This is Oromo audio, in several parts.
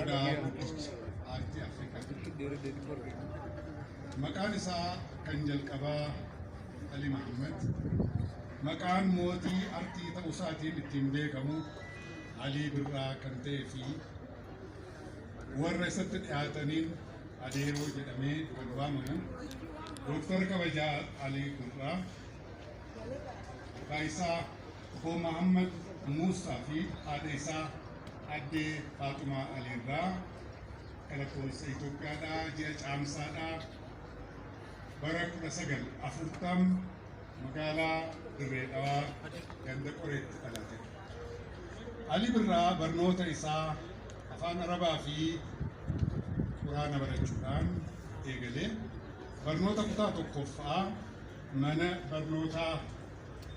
Odaa guddicha aartii Afrikaa. Maqaan isaa kan jalqabaa Ali Mahammad. Maqaan mootii artii ta'uu isaatiin ittiin beekamu Alii Birraa kan ta'ee fi warra isatti dhiyaataniin adeeroo jedhamee kan waamamu Dooktar Kabajaa Alii Birraa. Maqaa isaa Obbo Mahammad Muusaa fi haadha isaa Addee Faaxumaa Aliirraa akka lakkoofsa Itoophiyaadhaa ji'a Caamsaadhaa bara 1940 magaalaa Dirree Dhawaa ganda Qoreetti dhalate. Ali Birraa barnoota isaa afaan Arabaa fi Quraana barachuudhaan eegalee barnoota kutaa tokkoffaa mana barnootaa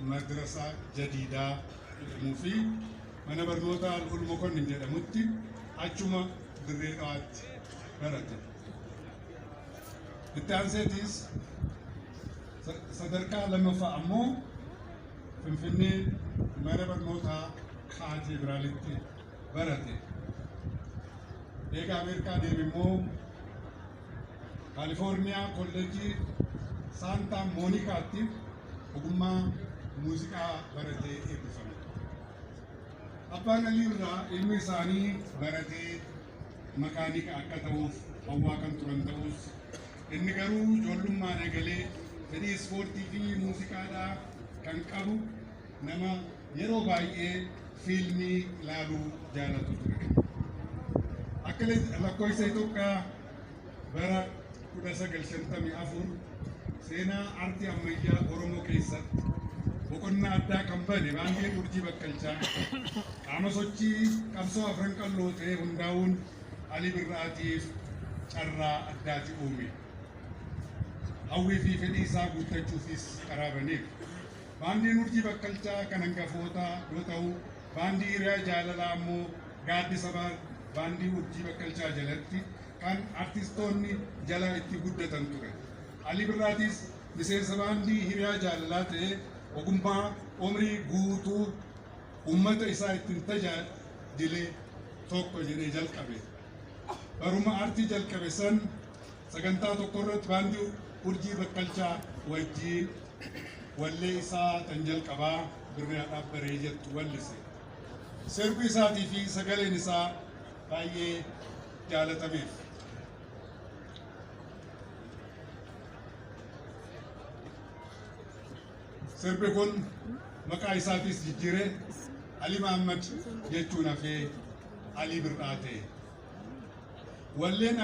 Madrasaa Jadiidaa jedhamuu fi mana barnootaa Alhul Mokonnin jedhamutti achuma Dirree Dhawaatti barate. Itti aanseetis sa- sadarkaa lammaffaa ammoo Finfinnee mana barnootaa Kaateediraalitti barate. Eega Ameerikaa deeme immoo Kaalifoorniyaa Kolleejjii Saantaa Moonikaatti ogummaa muuziqaa baratee eebbifame. Abbaan Aliirraa ilmi isaanii baratee makaanika akka ta'uuf hawwaa kan turan ta'us inni garuu ijoollummaan eegalee fedhii ispoortii fi muuziqaadhaa kan qabu nama yeroo baay'ee fiilmii ilaaluu jaalatu ture. Akka lakkoofsa Itoophiyaa bara 1954 seenaa aartii ammayyaa Oromoo keessatti boqonnaa addaa kan bane baandiin urjii bakkalchaa qaama sochii qabsoo afran qalloo ta'ee hundaa'uun Ali Birraatiif carraa addaati uume. Hawwii fi fedhii isaa guuttachuufis karaa baneef. Baandiin Urjii Bakkalchaa kan hangafootaa yoo ta'u, Baandii Hiriyaa Jaalalaa ammoo gaaddisa Baandii Urjii Bakkalchaa jalatti kan artistoonni jala itti guddatan ture. Alii Birraatis miseensa Baandii Hiriyaa Jaalalaa ta'ee ogummaa umrii guutuu uummata isaa ittiin tajaajile tokko jedhee jalqabe. Baruma artii jalqabe san Sagantaa tokko irratti baandii Urjii Bakkalchaa wajjiin wallee isaa tan jalqabaa birrii haadhaaf baree jettu wallise. Sirbi isaatii fi sagaleen isaa baay'ee jaalatameef. Sirbi kun maqaa isaatiis jijjiiree Ali Mahammad jechuun hafee Ali Bir'aa ta'e. Walleen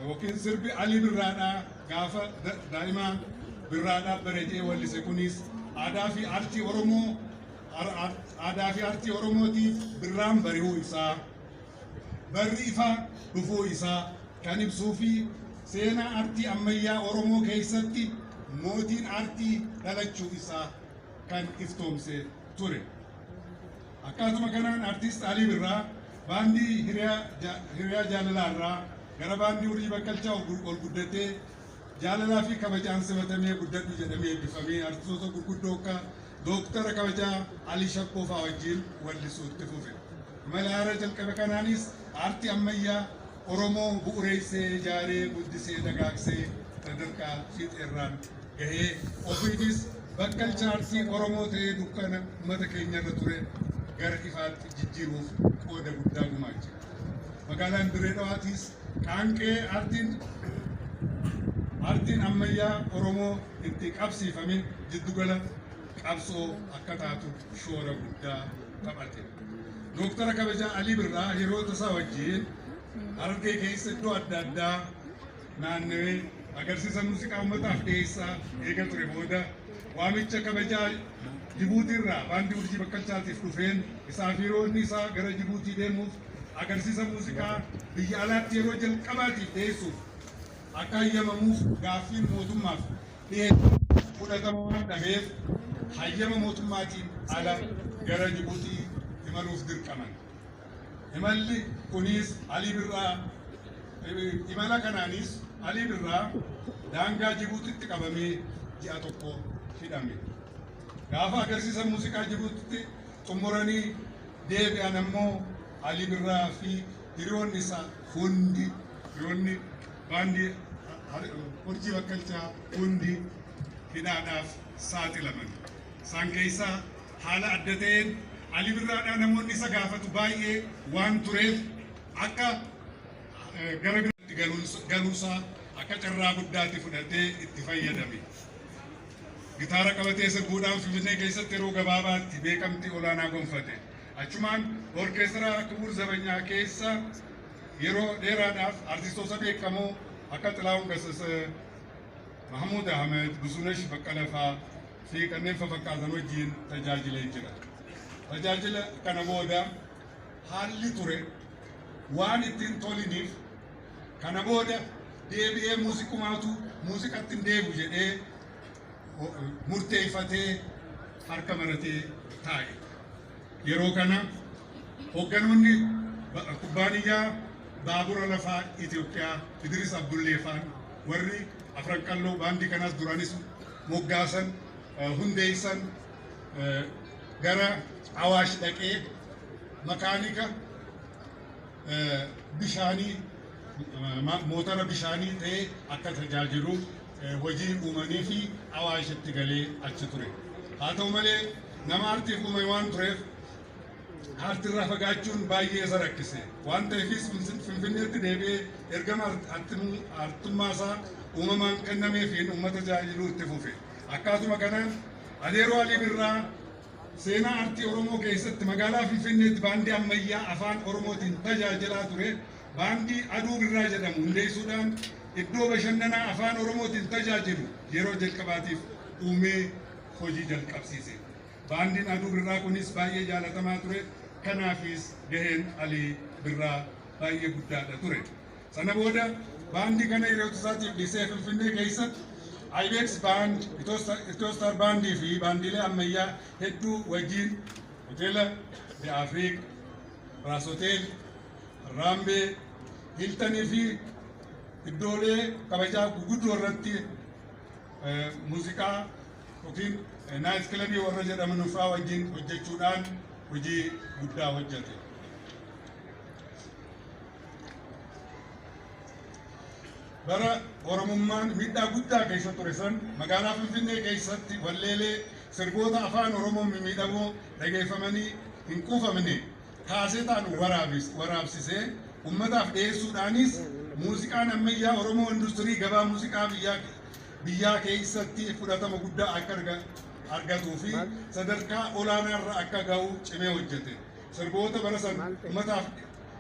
yookiin sirbi Alii Birraadhaa gaafa daa'imaa Birraadhaa bareedee wallise kunis aadaa fi artii Oromoo aadaa fi artii Oromootiif birraan bari'uu isaa barri ifa dhufuu isaa kan ibsuu fi seenaa artii ammayyaa Oromoo keessatti mootiin artii dhalachuu isaa kan iftoomse ture. Akkaatuma kanaan Artiist Alii Birraa baandii Hiriyaa Jaalalaa irraa gara baandii Urjii Bakkalchaa ol guddatee jaalalaa fi kabajaan simatamee guddadhu jedhamee eebbifamee artistoota gurguddoo akka Dooktara kabajaa Alii Shabboo fa'aa wajjin wallisuu itti fufe. Imala haaraa jalqabe kanaanis aartii ammayyaa Oromoo bu'ureessee, ijaaree, guddisee, dagaagsee sadarkaa fiixeerraan gahee ofiitis bakka chaansii Oromoo ta'ee dukkana uummata keenyarra ture gara ifaatti jijjiiruuf qooda guddaa gumaache. Magaalaan Dirree Dhawaatiis qaanqee aartiin aartiin ammayyaa Oromoo itti qabsiifame jiddugala qabsoo akka taatu shoora guddaa taphate. Dooktara kabajaa Alii Birraa hiriyoota isaa wajjin Harargee keessa iddoo adda addaa naannawee agarsiisa muuziqaa uummataaf dhiyeessaa eega ture booda waamicha kabajaa Jibuutiirraa baandii urjii bakkalchaatiif dhufeen isaa fi roonni isaa gara Jibuutii deemuuf agarsiisa muuziqaa biyya alaatti yeroo jalqabaatiif dhiyeessuuf akka hayyamamuuf gaaffiin mootummaaf dhiyeessu fudhatama waan dhabeef hayyama mootummaatiin ala gara Jibuutii imaluuf dirqaman. Imalli kunis Alii Birraa imala kanaanis Alii Birraa daangaa Jibuutitti qabamee ji'a tokko hidhame. Gaafa agarsiisa muuziqaa Jibuutitti xumuranii deebi'an ammoo Alii Birraa fi hiriyoonni isaa hundi hiriyoonni baandii Urjii Bakkalchaa hundi hidhaadhaaf saaxilaman. Isaan keessaa Haala adda ta'een Ali Birraadhaa namoonni isa gaafatu baay'ee waan tureef akka gara biraatti galuusaa akka carraa guddaatti fudhatee itti fayyadame. Gitaara qabatee sirbuudhaan Finfinnee keessatti yeroo gabaabaatti beekamtii olaanaa gonfate. Achumaan orkeestara Kibuur Zabanyaa keessa yeroo dheeraadhaaf artistoota beekamoo akka Xilaahun Gassasee, Mahamuud Ahmed, Buzunash Baqqala faa fi kanneen fafakkaatan wajjiin tajaajilee jira. Tajaajila kana booda haalli ture waan itti hin toliniif kana booda deebi'ee muuziqumaatu muuziqatti hin deebu jedhee murteeffatee harka maratee taa'e. Yeroo kana hogganoonni kubbaaniyyaa baabura lafaa Itoophiyaa Idiris Abdullee faan warri afran qalloo baandii kanas duranis moggaasan hundeessan gara Awaash dhaqee makaanika bishaanii mootara bishaanii ta'ee akka tajaajilu hojii uumanii fi awaashitti galee achi ture. Haa ta'u malee nama artiif uume waan tureef artirraa fagaachuun baay'ee isa rakkise. Waan ta'eefis Finfinneetti deebi'ee ergama artummaa isaa uumamaan kennameefiin uummata tajaajiluu itti fufe. Akkaatuma kanaan Adeeroo Alii Birraa Seenaa artii Oromoo keessatti magaalaa Finfinneetti baandii ammayyaa afaan Oromootiin tajaajilaa ture baandii Aduu Birraa jedhamu hundeessuudhaan iddoo bashannanaa afaan Oromootiin tajaajilu yeroo jalqabaatiif uumee hojii jalqabsiise. Baandiin Aduu Birraa kunis baay'ee jaalatamaa ture. Kanaafis gaheen Alii Birraa baay'ee guddaadha ture. Sana booda baandii kana hiriyoota isaatiif dhiisee Finfinnee keessatti Ibex Band, Itoostar Baandii fi baandiilee ammayyaa hedduu wajjin hoteela The Afriik, Raas Hotel, Raambee, Hiltanii fi iddoolee kabajaa guguddoo irratti muuziqaa yookiin naayit kilabii warra jedhaman fa'aa wajjin hojjechuudhaan hojii guddaa hojjete. Bara Oromummaan miidhaa guddaa keessa ture san magaalaa Finfinnee keessatti walleelee sirboota afaan Oromoo mimmiidhamoo dhageeffamanii hin quufamne kaasetaan waraabis waraabsisee ummataaf dhiyeessuudhaanis muuziqaan ammayyaa Oromoo industirii gabaa muuziqaa biyyaa biyyaa keessatti fudhatama guddaa akka arga- argatuu fi sadarkaa olaanaarra akka ga'u cimee hojjete. Sirboota bara san ummataaf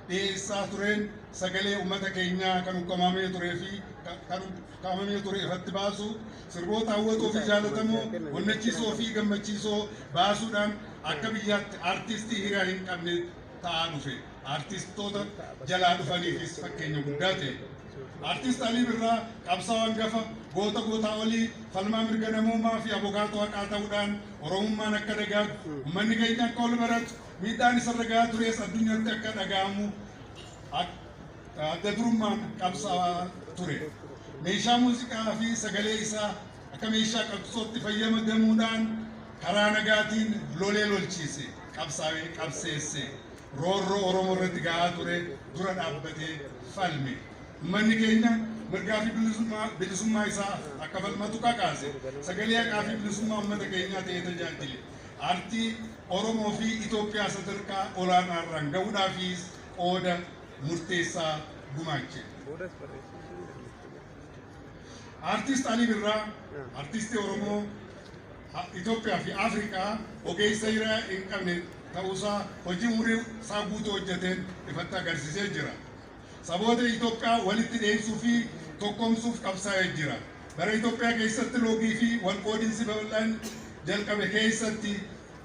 dhiyeessaa tureen sagalee uummata keenyaa kan ukkaamamee turee fi kan ukkaamamee ture irratti baasu sirboota hawwatoo fi jaalatamoo onnachiisoo fi gammachiisoo baasuudhaan akka biyyaatti artistii hiriyaa hin qabne ta'aa dhufe artistoota jalaa dhufaniifis fakkeenya guddaa ta'e. Artist Alii Birraa qabsaa'aa hangafa goota gootaa olii falmaa mirga namoomaa fi abokaatoo haqaa ta'uudhaan Oromummaan akka dagaagu uummanni keenya akka ol baratu Miidhaan isarra gahaa turees addunyatti akka dhaga'amu adda durummaan qabsaa'aa ture. Meeshaa muuziqaa fi sagalee isaa akka meeshaa qabsootti fayyadamuudhaan karaa nagaatiin lolee lolchiise, qabsaa'ee qabseesse, roorroo Oromoo irratti gahaa ture dura dhaabbatee falme. Uummanni keenya mirgaa fi bilisummaa isaa akka falmatu kakaase. Sagalee haqaa fi bilisummaa uummata keenyaa ta'ee tajaajile. artii Oromoo fi Itoophiyaa sadarkaa olaanaarraan ga'uudhaafiis qooda murteessaa gumaache. Artist Alii Birraa artistii Oromoo, Itoophiyaa fi Afrikaa ogeessa hiriyaa hin qabne ta'uusaa hojii umurii isaa guutuu hojjeteen ifatti agarsiisee jira. Saboota Itoophiyaa walitti dheedsuu fi tokkoomsuuf qabsaa'ee jira. Bara Itoophiyaa keessatti loogii fi walqoodinsi babal'aan jalqabe keessatti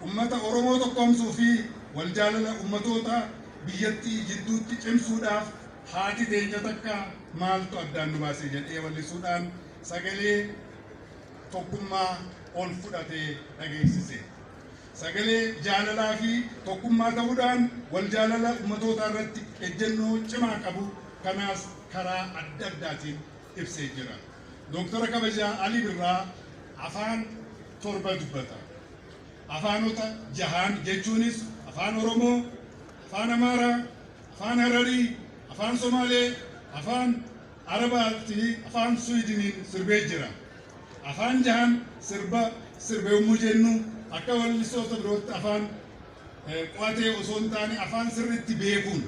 ummata Oromoo tokkoomsuu fi waljaalala ummatoota biyyattii jidduutti cimsuudhaaf haati teenya takka maaltu addaan nu baase jedhee wallisuudhaan sagalee tokkummaa ol fudhatee dhageessise. sagalee jaalalaa fi tokkummaa ta'uudhaan wal jaalala ummatootaa irratti ejjennoo cimaa qabu kanaas karaa adda addaatiin ibsee jira. Dooktara kabajaa Alii Birraa afaan torba dubbata. Afaanota jahaan jechuunis afaan Oromoo, afaan Amaaraa, afaan Hararii, afaan Somaalee, afaan Arabaatti afaan Suwidiniin sirbee jira. Afaan jahan sirba sirbe yommuu jennu akka wallistoota birootti afaan qo'atee osoo hin taane afaan sirriitti beekuun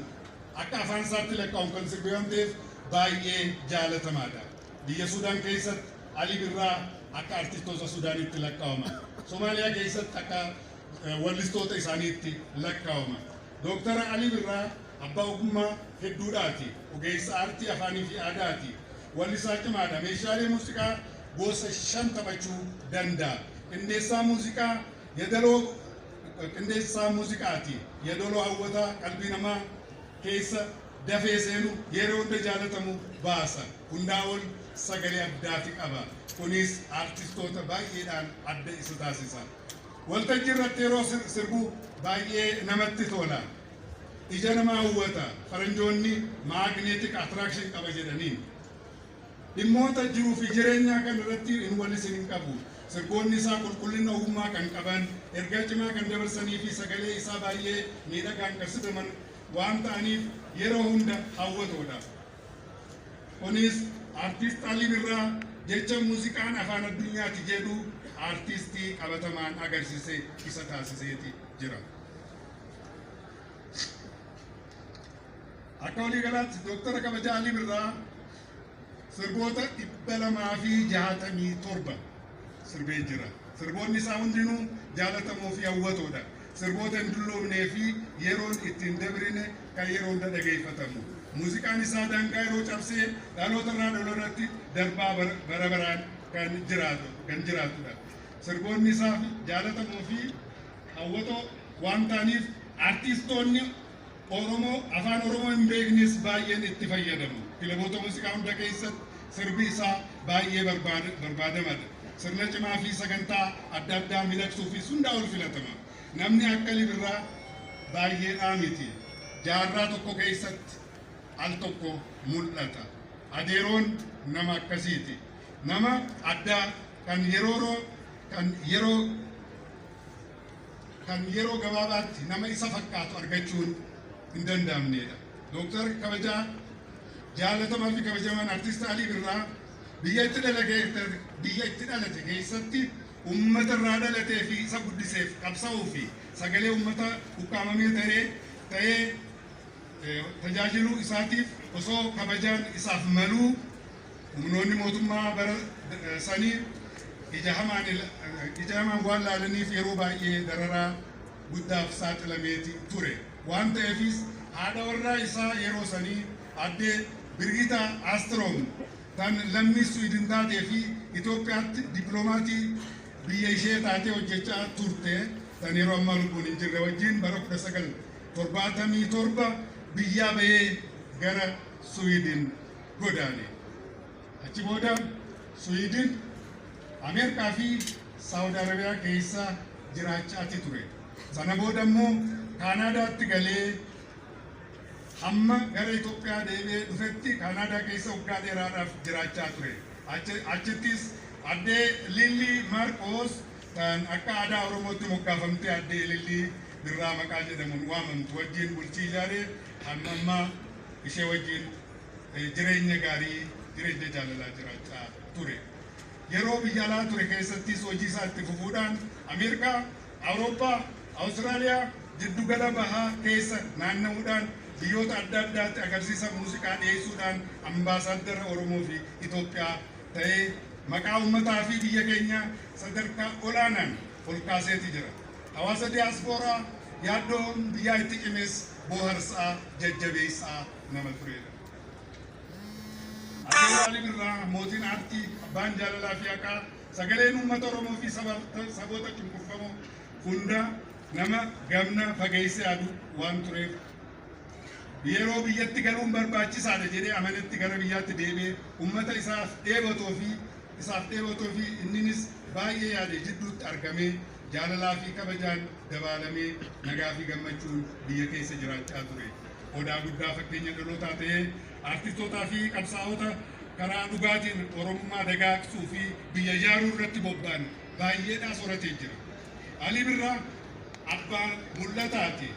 akka afaan isaatti lakkaa'uun kan sirbe waan ta'eef baay'ee jaalatamaadha. Biyya Suudaan keessatti Ali Birraa akka artistoota Suudaaniitti lakkaa'ama. Somaaliyaa keessatti akka wallistoota isaaniitti lakkaa'ama. Dooktar Alii Birraa abbaa ogummaa hedduudhaati. Ogeessa aartii afaaniifi aadaati. Wallisaa cimaadha. Meeshaalee muuziqaa gosa shan taphachuu danda'a. Qindeessaa muuziqaa yadaloo qindeessaa muuziqaati. Yadaloo hawwataa qalbii namaa keessa dafee seenu yeroo hunda jaalatamu baasa. Hundaa ol sagalee addaafi qaba. Kunis aartistoota baay'eedhaan adda isa taasisa. Waltajjii irratti yeroo sirbu baay'ee namatti tola. Ija nama hawwata. Faranjoonni magnetic attraction qaba jedhaniin. Dhimmoota jiruu fi jireenyaa kan irratti hin wallis hin qabu. Sirboonni isaa qulqullina ogummaa kan qaban, ergaa cimaa kan dabarsanii fi sagalee isaa baay'ee miidhagaan kan sidaman waan ta'aniif yeroo hunda hawwatoodha. Kunis Artiist Ali Birraa jecha muuziqaan afaan addunyaati jedhu artiistii qabatamaan agarsise isa taasiseeti jira. Akka walii galaatti Dooktara Kabaja Ali Birraa sirboota dhibba lamaa fi jaatamii torba sirbee jira. Sirboonni isaa hundinuu jaalatamoo fi hawwatoodha. sirboota hin dulloomnee fi yeroon itti hin dabrine kan yeroo hunda dhageeffatamu. Muuziqaan isaa daangaa yeroo cabsee dhaloota irraa dhalootatti darbaa bara bara baraan kan jiraatu kan jiraatudha. Sirboonni isaa jaalatamoo fi hawwatoo waan ta'aniif artiistoonni Oromoo Afaan Oromoo hin beeknes baay'een itti fayyadama. Kilaboota muuziqaa hunda keessatti sirbi isaa baay'ee barbaadamadha. Sirna cimaa fi sagantaa adda addaa midhagsuufis hundaa ol filatama. Namni akka Ali Birraa baay'eedhaa miti. Jaarraa tokko keessatti al tokko mul'ata. Adeeroon nama akkasiiti. Nama addaa kan yeroo kan yeroo kan yeroo gabaabaatti nama isa fakkaatu argachuun hin danda'amneedha. Dooktar kabajaa jaalatamaa fi kabajamaan artist Alii Birraa biyya itti dhalate biyya itti dhalate keessatti uummata irraa dhalatee fi isa guddiseef qabsa'uu fi sagalee uummata ukkaamamee ta'ee ta'ee tajaajiluu isaatiif osoo kabajaan isaaf maluu Humnoonni mootummaa bara sanii ija hamaan ila- ija hamaan waan laalaniif yeroo baay'ee dararaa guddaaf saaxilameeti ture. Waan ta'eefis haadha warraa isaa yeroo sanii addee Birgitaa Aastiroom tan lammii Swiidin taatee fi Itoophiyaatti dippilomaatii biyya ishee taatee hojjechaa turte tan yeroo ammaa lubbuun hin jirre wajjin bara 1977 biyyaa bahee gara Swiidin godaane. Achi booda Suwiidin, Ameerikaa fi Saawud Arabiyaa keessa jiraachaati ture. Sana booda immoo Kaanaadaatti galee hamma gara Itoophiyaa deebi'ee dhufetti Kaanaadaa keessa waggaa dheeraadhaaf jiraachaa ture. Achi- Achittis addee Lillii Maarqoos kan akka aadaa Oromootti moggaafamtee addee Lillii Birraa maqaa jedhamuun waamamtu wajjin bultii ijaaree hamma ammaa ishee wajjin jireenya gaarii jireenya jaalalaa jiraachaa ture. Yeroo biyya alaa ture keessattis hojii isaa itti fufuudhaan Ameerikaa, Awurooppaa, Awustiraaliyaa, jiddugala bahaa keessa naanna'uudhaan biyyoota adda addaatti agarsiisa muuziqaa dhiyeessuudhaan ambaasaaddara Oromoo fi Itoophiyaa ta'ee maqaa uummataa fi biyya keenya sadarkaa olaanaan ol kaaseeti jira. Hawaasa diyaaspooraa yaaddoon biyyaa itti cimes booharsaa, jajjabeessaa nama tureedha. Addee Waraali Birraa, mootiin aartii, abbaan jaalalaa fi haqaa, sagaleen uummata Oromoo fi saboota cunqurfamoo hundaa nama gamna fageessee yaadu waan tureef yeroo biyyatti galuun barbaachisaadha jedhee amanetti gara biyyaatti deebi'ee uummata isaaf dheebotoo fi isaaf dheebotoo fi inninis baay'ee yaade jidduutti argamee jaalalaa fi kabajaan dabaalamee nagaa fi gammachuun biyya keessa jiraachaa ture. Odaa guddaa fakkeenya dhalootaa ta'ee artistootaa fi qabsaa'ota karaa dhugaatiin Oromummaa dagaagsuu fi biyya ijaaruu irratti bobba'an baay'eedhaa soratee jira. Alii Birraa abbaa mul'ataati.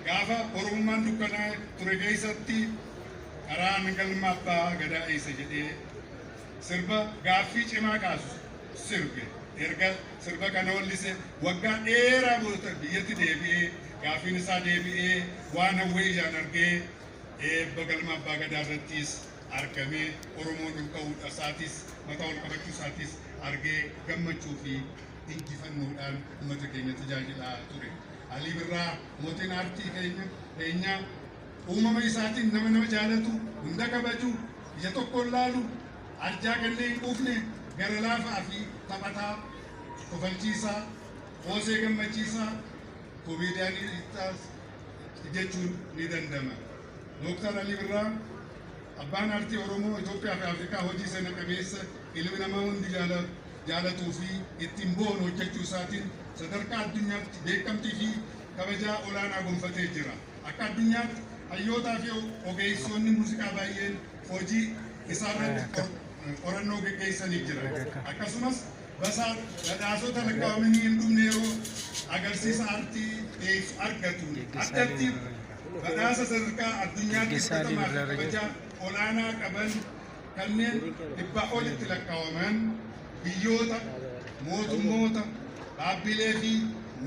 Gaafa Oromummaan dukkanaa ture keessatti karaan galma abbaa gadaa eessa jedhee sirba gaaffii cimaa kaasu sirbe erga sirba kana hollise waggaa dheeraa booda biyyatti deebi'ee gaafiin isaa deebi'ee waan hawwee ijaan argee eebba galma abbaa gadaa irrattis argamee oromoon ol ka'uudha isaatis mataa ol qabachuu isaatis argee gammachuu fi injifannoodhaan uummata keenya tajaajilaa ture. Alii Birraa mootiin aartii keenya keenyaa uumama isaatiin nama nama jaalatu hunda kabaju ija tokkoon laalu Arjaa gannee hin quufne, gara laafaa fi taphataa, kofalchiisaa, qoosee gammachiisaa, comedian stars, jechuun ni danda'ma. Dooktar Alii Birraa abbaan aartii Oromoo, Itoophiyaa fi Afrikaa hojii sena qabeessa ilmi namaa hundi jaalatuu fi ittiin boonu hojjechuu isaatiin sadarkaa addunyaatti beekamtii fi kabajaa olaanaa gonfatee jira. Akka addunyaatti hayyootaa fi ogeessoonni muuziqaa baay'een hojii isaarratti qorannoo geggeessanii jira. Akkasumas basaa badhaasota lakkaa'amanii hin dhumne yeroo agarsiisa aartii dhiyeessu argatu. Addatti badhaasa sadarkaa addunyaatti fudhatamaa fi kabaja olaanaa qaban kanneen dhibbaa olitti lakkaa'aman biyyoota, mootummoota, dhaabbilee fi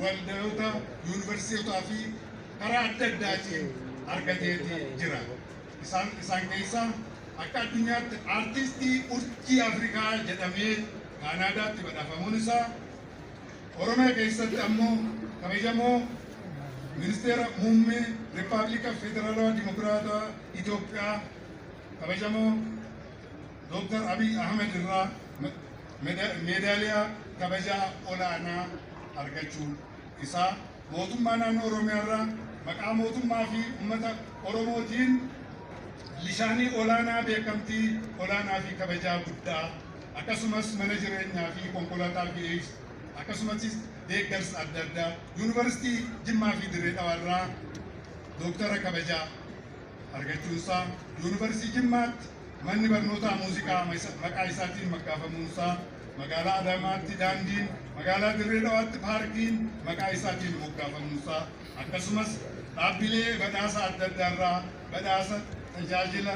waldoota, yuunivarsiitotaa fi karaa adda addaatiin argateeti jira. Isaan isaan keessaa akka addunyaatti Artistii Urjii Afrikaa jedhamee Kaanaadaatti badhaafamuun isaa Oromiyaa keessatti ammoo kabajamoo Ministeera Muummee Rippaabilika Federaalawaa Dimokiraataa Itoophiyaa kabajamoo Dooktar Abiy Ahmed irraa meedaaliyaa kabajaa olaanaa argachuu isaa Mootummaa Naannoo Oromiyaa irraa maqaa mootummaa fi ummata Oromootiin lisaanii olaanaa beekamtii olaanaa fi kabajaa guddaa akkasumas mana jireenyaa fi konkolaataa VX akkasumattis deeggarsa adda addaa Yuunivarsiitii Jimmaa fi Dirree Dhawaa irraa Dooktara kabajaa argachuunsaa Yuunivarsiitii Jimmaatti Manni barnootaa muuziqaa maqaa isaatiin maggaafamuunsaa, magaalaa Adaamaatti daandiin, magaalaa Dirree Dhawaatti paarkiin maqaa isaatiin moggaafamuunsaa, akkasumas dhaabbilee badhaasa adda addaarraa badhaasa tajaajila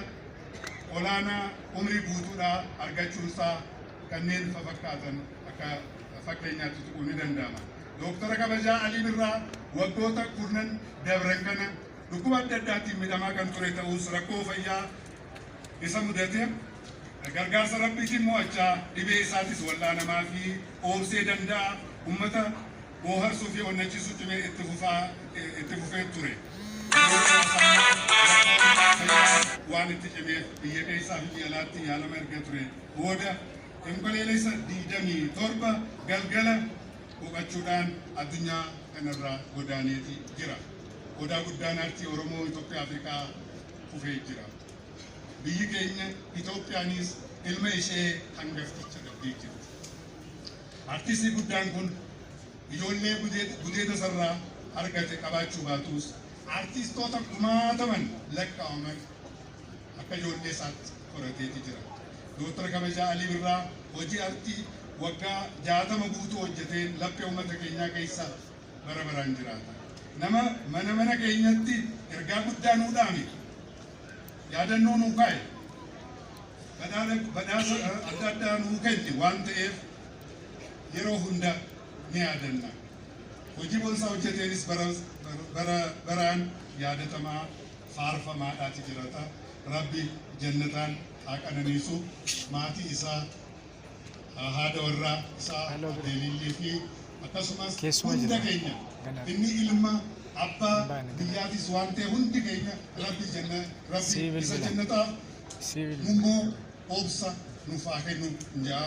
olaanaa umrii guutuudhaa argachuunsaa kanneen fafakkaatan akka fakkeenyaatti tuquun ni danda'ama. Dooktara kabajaa Alii Birraa waggoota kurnan dabran kana dhukkuba adda addaatiin midhamaa kan ture ta'us rakkoo fayyaa isa mudate gargaarsa Rabbiitiin mo'achaa dhibee isaatis wal'aanamaa fi oobsee danda'a ummata booharsuu fi onnachiisuu cimee itti fufaa itti fufee ture. Yeroo muraasa booda waan itti cimeef biyya keessaa fi biyya alaatti yaalama erga ture booda Onkoleelessa 27 galgala boqachuudhaan addunyaa kanarraa godaaneeti jira. Odaa guddaan aartii Oromoo Itoophiyaa Afrikaa kufee jira. Biyyi keenya Itoophiyaanis ilma ishee hangafticha dhabdee jirti. Artistii guddaan kun ijoollee gudeed- gudeeda sarraa argate qabaachuu baatus artistoota kumaataman lakkaa'aman akka ijoollee isaatti horateeti jira. Dooktar Kabajaa Alii Birraa hojii artii waggaa jaatama guutuu hojjeteen laphee uummata keenyaa keessa bara baraan jiraata. Nama mana mana keenyatti ergaa guddaa nuu dhaame, yaadannoo nuu kaa'e, badhaadha badhaasa adda addaa nuu kenne waan ta'eef yeroo hunda ni yaadanna. Hojii boonsaa hojjeteenis bara bara baraan yaadatamaa faarfamaadhaati jirata. Rabbi jannataan haa qananiisu, maatii isaa haadha warraa isaa Addee Liillii fi akkasumas hunda keenya inni ilma abbaa biyyaatis waan ta'e hundi keenya rabbi janna rabbi isa jannataa immoo obsa nuuf haa kennu jaa